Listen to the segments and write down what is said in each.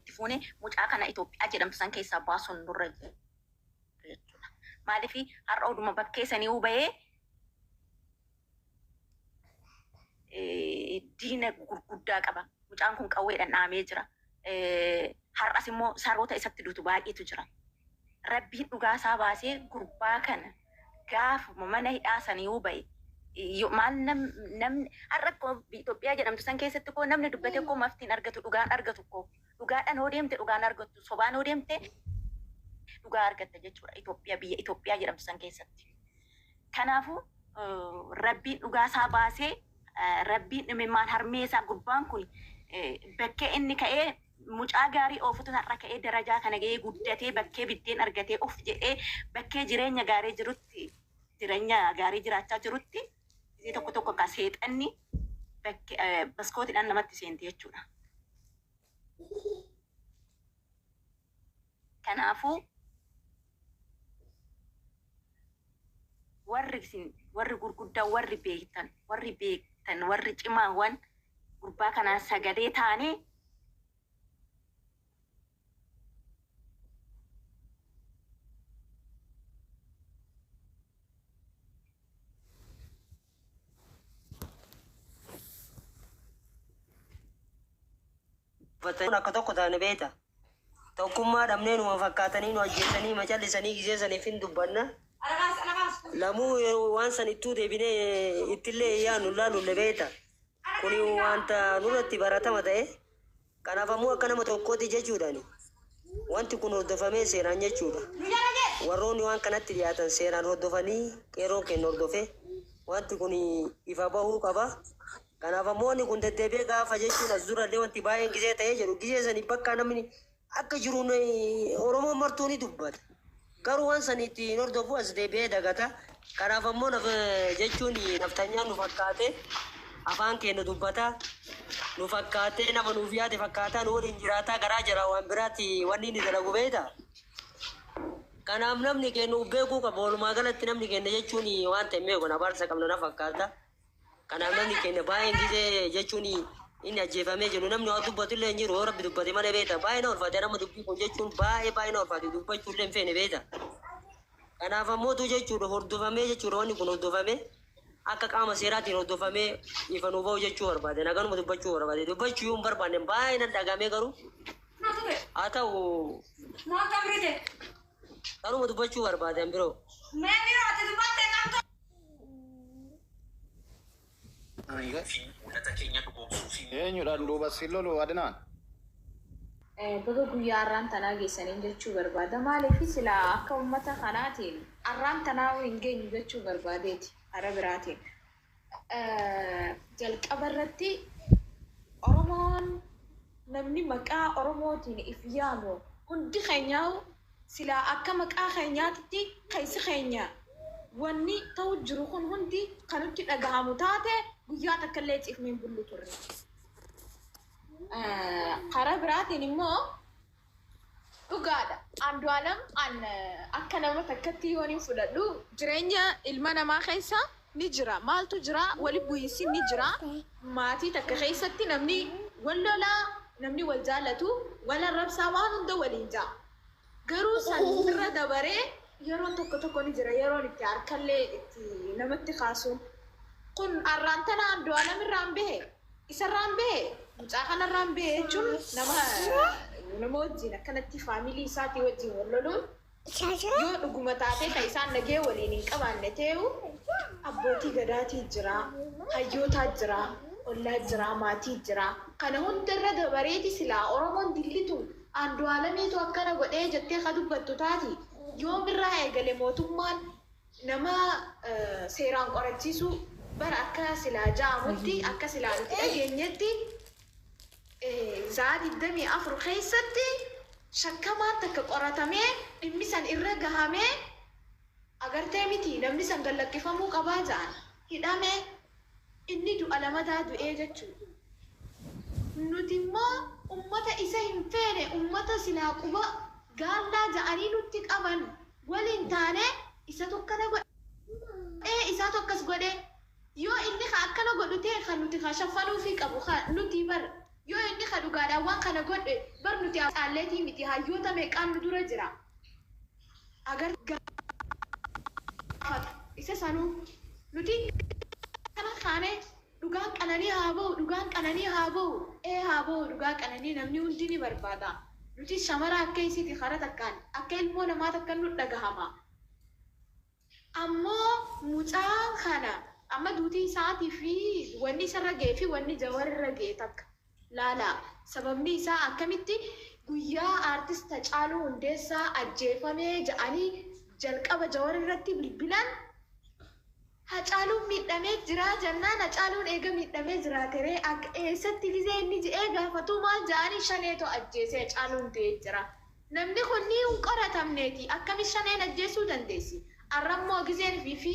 itti fuune mucaa kana Itoophiyaa jedhamtu san keessaa baasuun nurra jira jechuudha. Maaliif har'a oduma bakkee sanii'uu bahee eh, diina gurguddaa qaba. Mucaan kun qawweedhaan dhaamee jira. Eh, Har'as immoo saroota isatti dutu baay'eetu jira. Rabbiin dhugaa isaa baasee gurbaa kana gaafuma mana hidhaa saniiuu bahe maal namni har'a akkoo biyya Itoophiyaa jedhamtu san keessatti koo namni dubbate koo mafti hin argatu dhugaan argatu koo dhugaadhaan hoo deemte dhugaan argattu sobaan hoo deemte dhugaa argatta jechuudha Itoophiyaa biyya Itoophiyaa jedhamtu san keessatti. Kanaafuu rabbiin dhugaa isaa baasee rabbiin dhimimmaan harmee isaa gurbaan kun bakkee inni ka'ee Mucaa gaarii oofutu har'a ka'ee darajaa kana ga'ee guddatee bakkee biddeen argatee of jedhee bakkee jireenya gaarii jirutti jireenya gaarii jiraachaa jirutti gisee tokko tokko kaa seexanni bakke baskootiidhaan namatti seenti jechuudha. Kanaafuu, warri isin, warri gurguddaa, warri beektan, warri beektan, warri cimaawwan gurbaa kanaa sagalee taanee, dubbatanii akka tokko taane beekta. Tokkummaa dhabnee numa fakkaatanii nu ajjeesanii ma callisanii gisee saniif hin dubbanna. Lamuu yeroo waan san ittuu deebinee ittillee hin yaannu hin laalulle beekta. Kuni wanta nurratti baratama ta'e. Kanaaf ammoo akka nama tokkooti jechuudhaani. Wanti kun hordofamee seeraan jechuudha. Warroonni waan kanatti dhiyaatan seeraan hordofanii qeerroon keenya hordofee wanti kun ifa bahuu qaba. Kanaaf ammoo wanni kun deddeebi'ee gaafa jechuun as durallee wanti baay'een gizee ta'ee jedhu gizee saniif bakka namni akka jiru Oromoon martuu ni dubbata. Garuu waan sanii itti hin hordofu as deebi'ee dagata. Kanaaf ammoo naf jechuun nafxanyaan nu fakkaatee afaan keenya dubbata. Nu fakkaatee nama nuuf yaade fakkaataa nu waliin jiraataa garaa jala waan biraatti wanni inni dalagu beektaa? Kanaaf namni keenya of beekuu qaba. Walumaa galatti namni keenya jechuun waan ta'e hin beeku. Abaarsa qabna na fakkaata. Kanaaf namni keenya baay'een gisee jechuun inni ajjeefamee jiru namni waa dubbatu illee hin jiru yoo rabbi dubbate malee beekta baay'ee na ulfaate nama dubbii kun jechuun baay'ee baay'ee na ulfaate dubbachuu illee hin feene beekta. Kanaaf ammootu jechuudha hordofamee jechuudha wanni kun hordofamee akka qaama seeraatiin hordofamee ifa nu ba'u jechuu barbaade naganuma dubbachuu barbaade dubbachuu yoo hin barbaanne baay'ee nan dhagamee garuu haa ta'u kanuma dubbachuu barbaade an biroo. Eenyudhaan duuba siin lolu Adnaan? Baga guyyaa arraan tanaa geessaniin jechuu barbaada. Maaliif silaa akka ummata kanaatiin arraan tanaahuu hin geenyu jechuu barbaadeeti. Karaa biraatiin jalqaba irratti Oromoon namni maqaa Oromootiin if yaamu hundi keenyaahuu, Silaa akka maqaa keenyaatitti keessi keenya wanni ta'u jiru kun hundi ka nutti dhagahamu taate guyyaa takkallee ciifne hin bullu turre. Karaa biraatiin immoo dhugaadha Andu'aalam an akka nama takkatti yoon hin fudhadhu jireenya ilma namaa keessa ni jira maaltu jira wali bu'iinsi ni jira maatii takka keessatti namni wal lola namni wal jaallatu wal arrabsaa waan hunda waliin ja'a garuu san irra dabaree yeroon tokko tokko ni jira yeroon itti harkallee itti namatti kaasuun kun arraan tana Andu'aalam irraan bahe isarraan bahe mucaa kanarraan bahe jechuun nama nama wajjiin akkanatti faamilii isaatii wajjiin wal loluun Yoo dhuguma taatee kan isaan nagee waliin hin qabaanne tee'u abbootii gadaatii jira, hayyootaa jira, ollaa jira, maatii jira. Kana hunda irra dabareeti silaa Oromoon dilli tun Aandu'aalamiitu akkana godhee jettee ka dubbattu taati. Yoom irraa eegale mootummaan Nama seeraan qorachiisu bar akka silaa ja'amutti akka silaa nuti dhageenyetti za'aa 24 keessatti shakkamaan takka qoratamee dhimmi san irra gahamee agartee miti namni san gad lakkifamuu qabaa ja'an hidhame inni du'a lamataa du'ee jechuu nuti immoo ummata isa hin feene ummata silaa quba gaallaa ja'anii nutti qaban waliin taanee isatu akkana godhe isaatu akkas godhe yoo inni ka akkana godhu ta'e ka nuti ka shaffanuufii qabu ka nutii bar yoo inni ka dhugaadhaan waan kana godhe bar nuti ammoo caalleetii miti hayyoota meeqaan nu dura jira agartee gaafatu isa sanuu nuti akkana kaanee Dhugaan qananii haa bahu dhugaan qananii haa bahu ee haa bahu dhugaa qananii namni hundii ni barbaada nutis shamaraa akka isiti kara takkaan akka ilmoo namaa takkan nut dhagahama ammoo mucaa kana amma duutii isaati fi wanni isarra gahe fi wanni jawar irra gahe takka laalaa. Sababni isaa akkamitti guyyaa Artist Hacaaluu Hundeessaa ajjeefame ja'anii jalqaba Jawar irratti bilbilan Hacaaluun miidhamee jira jannaan Hacaaluun eega miidhamee jiraate ree akka eessatti gizee inni je'ee gaafatuu maal ja'anii Shaneetu ajjeesee Hacaaluun du'ee jira. Namni kun ni hin qoratamneeti akkami shaneen ajjeessuu dandeessi arrammoo gizeen fi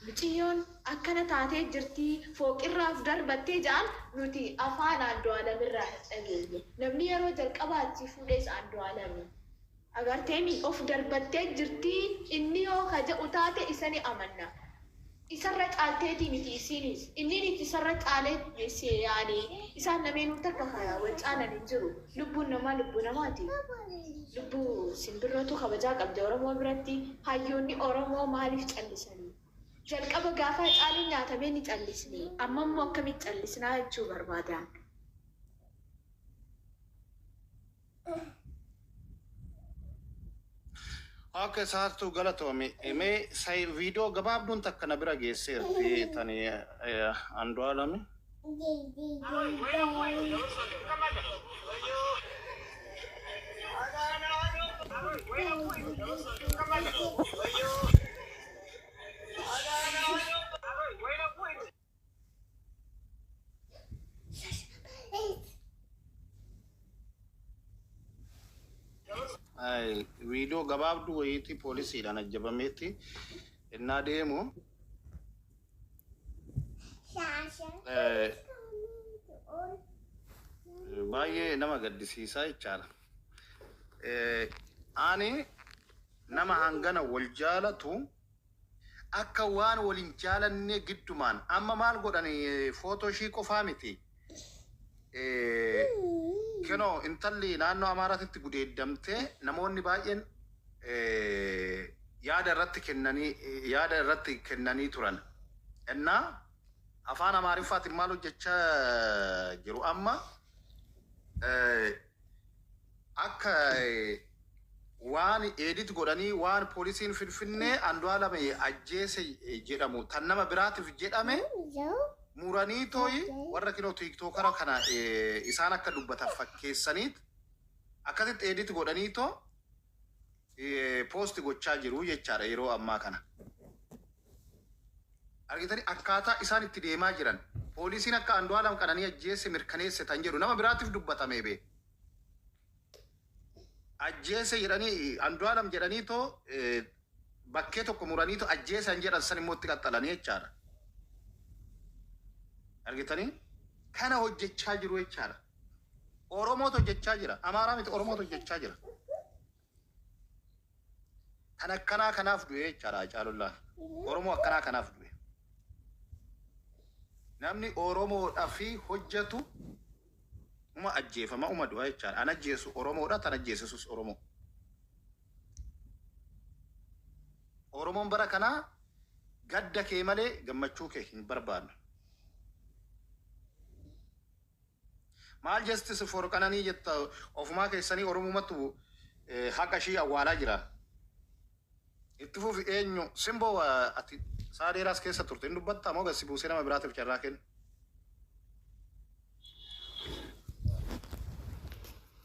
miciyyoon akkana taatee jirtii fooqirraa of darbattee ja'an nuti afaan Andu'aalam irraa hin dhageenye namni yeroo jalqabaa achii fuudhees Andu'aalami agarteemi of darbattee jirtii inni yoo ka ja'u taate isa ni amanna Isarra caalteetii miti isiiniis, inniiniis isarra caalee deessee yaani. Isaan lameenuu takka ka wal caalan hin jiru. Lubbuun namaa lubbuu namaati. Lubbuu simbirrootu kabajaa qabdi Oromoo biratti. Hayyoonni Oromoo maaliif callisani? Jalqaba gaafa Hacaaluun nyaatamee ni callisne. Amma immoo akkamitti callisnaa jechuu barbaadaan. Ok saartuu galatoomi. Mee say viidiyoo gabaabduun takka na bira geesseerti tani Andu'aalami. Thank you. Viidiyoo gabaabduu wayiitii poolisiidhaan ajjabameetti innaa deemu baay'ee nama gaddisiisaa jechaadha. Ani nama hangana wal jaalatu Akka waan wal hin jaalannee giddumaan amma maal godhan footoo ishii qofaa miti kinoo intalli naannoo Amaaraatitti gudeeddamtee namoonni baay'een yaada irratti kennanii yaada irratti kennanii turan. Innaa afaan Amaariffaatiin maal hojjechaa jiru amma akka waan edit godhanii waan poolisiin finfinnee Andu'aalam ajjeese jedhamu tan nama biraatiif jedhame muranii tooyi warra kinoo tiiktookara kana isaan akka dubbatan fakkeessaniit akkasitti edit godhanii too post gochaa jiru jechaadha yeroo ammaa kana. Argitanii akkaataa isaan itti deemaa jiran poolisiin akka Andu'aalam qananii ajjeesse mirkaneesse tan jedhu nama biraatiif dubbatamee bee. Ajjeese jedhanii Andu'aalam jedhanii too bakkee tokko muranii too ajjeesan jedhan san immoo itti qaxxalanii jechaadha. Argitanii kana hojjechaa jiru jechaadha. Oromootu hojjechaa jira. Amaaraa miti Oromootu hojjechaa jira. Kan akkanaa kanaaf du'e jechaadha Hacaalullaaf. Oromoo akkanaa kanaaf du'e. Namni Oromoodha fi hojjetu uma ajjeefama uma du'a jechaadha. An ajjeesu Oromoodha tan ajjeesisus Oromoo. Oromoon bara kanaa gadda kee malee gammachuu kee hin barbaannu. Maal justice for qananii jetta ofumaa keessanii oromumatu haqa ishii awwaalaa jira. Itti fufi eenyu simboo wa ati saa dheeraas keessa turte hin dubbatta moo gassi buusee nama biraatiif carraa kennu.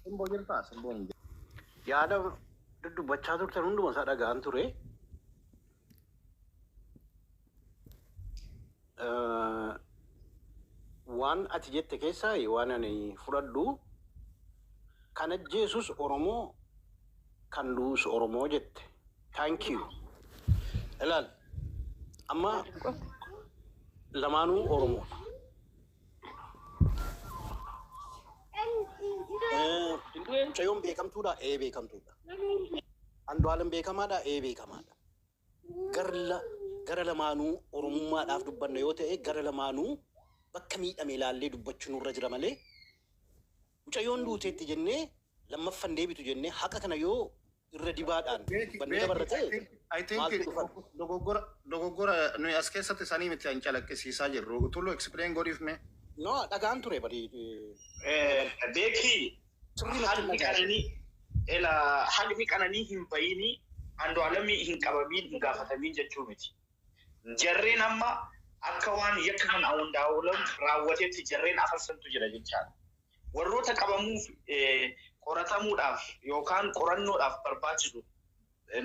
Simboo jirtaa simboo hin jirtu. Yaada dudubbachaa turtan hunduma isaa dhaga'an ture. Waan ati jette keessaa waan ani fudhadhu kan ajjeesus Oromoo kan du'us Oromoo jette. Thank you. Ilaal amma lamaanuu Oromoodha. Mucayyoon beekamtuudha. Ee beekamtuudha. Andu'aalam beekamaadha. Ee beekamaadha. Garla gara lamaanuu oromummaadhaaf dubbanna yoo ta'e gara lamaanuu bakka miidhame ilaallee dubbachuu nurra jira malee mucayyoon duuteetti jennee lammaffan deebitu jennee haqa kana yoo irra dibaadhaan Beeki, banni beeki, dabarra I ta'e think, I think maaltu dhufan? dogog- dogoggora, dogoggora nuyi as keessatti sanii miti an calaqqisiisaa jirru. Tullu explain godhiif mee. No, dhagaan ture bari. Eh, Beeki, Sirrii natti haqni dhagaa'e. qananii, ela, haqni qananii hin bayini, Andu'aalamii hin qabamiin, hin gaafatamiin jechuu miti. Jarreen amma akka waan yakka kan Andu'aalam raawwatetti jarreen afarsantu jira jechaadha. warroota qabamuuf qoratamuudhaaf yookaan qorannoodhaaf barbaachisu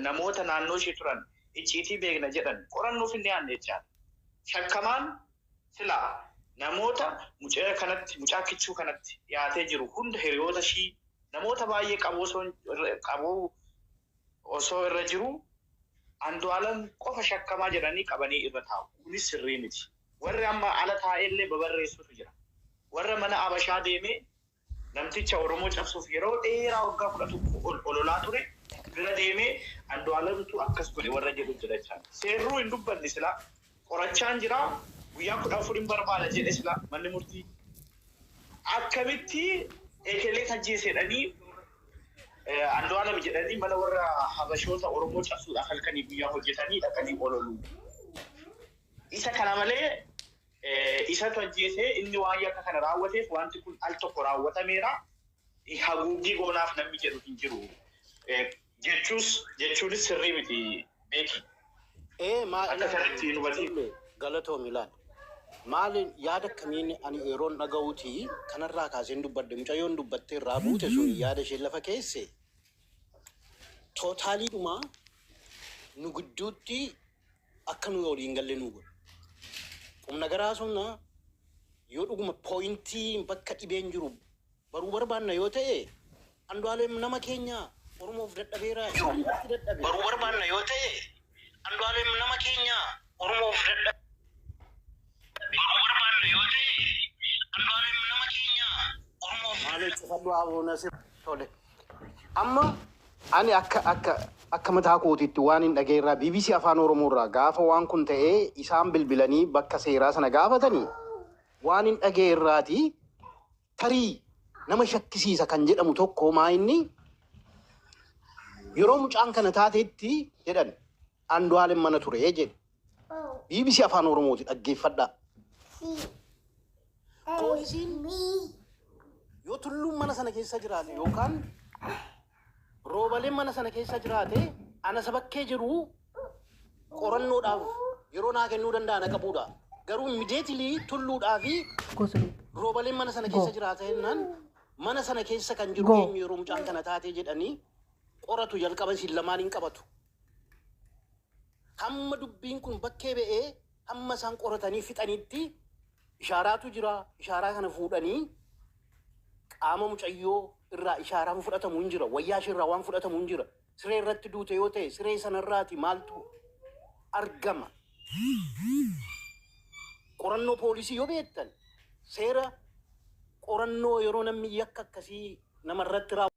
namoota naannoo ishee turan icciitii beekna jedhan qorannoof hin dhiyaanne jechaadha. Shakkamaan silaa namoota mucaa kanatti mucaa kichuu kanatti dhiyaatee jiru hunda hiriyoota ishii namoota baay'ee qaboo osoo qaboo osoo irra jiru Andu'aalam qofa shakkamaa jedhanii qabanii irra taa'u. Kunis sirrii miti. Warri amma ala taa'eellee babarreessutu jira. Warra mana Abashaa deemee namticha Oromoo cabsuuf yeroo dheeraa waggaa 11 ol ololaa ture bira deemee Andu'aalamtu akkas godhe warra jedhu jira jechaan. Seerruu hin dubbanne silaa. Qorachaan jira. Guyyaa 14 hin barbaada jedhe silaa manni murtii. Akkamitti ekeleet ajjeese jedhanii Andu'aalam jedhanii mana warra Habashoota Oromoo cabsuudhaaf halkanii guyyaa hojjetanii dhaqanii ololuu. Isa kana malee, isatu ajjeese, inni waan yakka kana raawwateef wanti kun al tokko raawwatameera, haguuggii goonaaf namni jedhu hin jiru jechuus jechuunis sirrii miti Beeki. Ee maal Akka ilaali kanatti hin hubatiin. Tajalle galatoomi ilaali. Maal yaada akkamiin ani yeroon dhaga'uuti kanarraa kaaseen dubbadhe mucayyoon dubbattee irraa buute sun yaada isheen lafa keesse tootaaliidhuma nu gidduutti akka nuyi olii hin galle nuu godhu. Qumnagara haasofna yoo dhuguma pooyintii bakka dhibeen jiru baruu barbaanna yoo ta'e Andu'aalem nama keenya Oromoof dadhabeera jiru irratti dadhabe. baruu barbaanna yoo ta'e Andu'aalem nama keenya Oromoof dadhabeera. Durba barbaanna yoo ta'e albaabim nama keenya orma of. Maale cufadhu aboo nasir. Tole. Amma ani akka akka akka mataa kootiitti waan hin dhaga'e irraa BBC Afaan Oromoo irraa gaafa waan kun ta'ee isaan bilbilanii bakka seeraa sana gaafatanii waan hin dhaga'e irraati Tarii nama shakkisiisa kan jedhamu tokko maa inni yeroo mucaan kana taateetti jedhan Andu'aalem mana ture jedhe. BBC Afaan Oromooti dhaggeeffadhaa. Poolisiin yoo tulluun mana sana keessa jiraate yookaan Roobaleen mana sana keessa jiraate ana isa bakkee jiru qorannoodhaaf yeroo naa kennuu danda'a na qabuudha. Garuu immediately tulluudhaa fi Gosley. roobaleen mana sana keessa Go. jiraata jennaan mana sana keessa kan jiru Go. eenyu yeroo mucaan kana taatee jedhanii qoratu jalqaba isin lamaan hin qabatu. Hamma dubbiin kun bakkee ba'ee hamma isaan qoratanii fixanitti Ishaaraatu jira. Ishaaraa kana fuudhanii qaama mucayyoo irraa ishaaraan fudhatamu hin jira. Wayyaa ishee irraa waan fudhatamu hin jira. Siree irratti duute yoo ta'e siree sana irraati maaltu argama? Qorannoo poolisii yoo beektan seera qorannoo yeroo namni yakka akkasii nama irratti raawwatu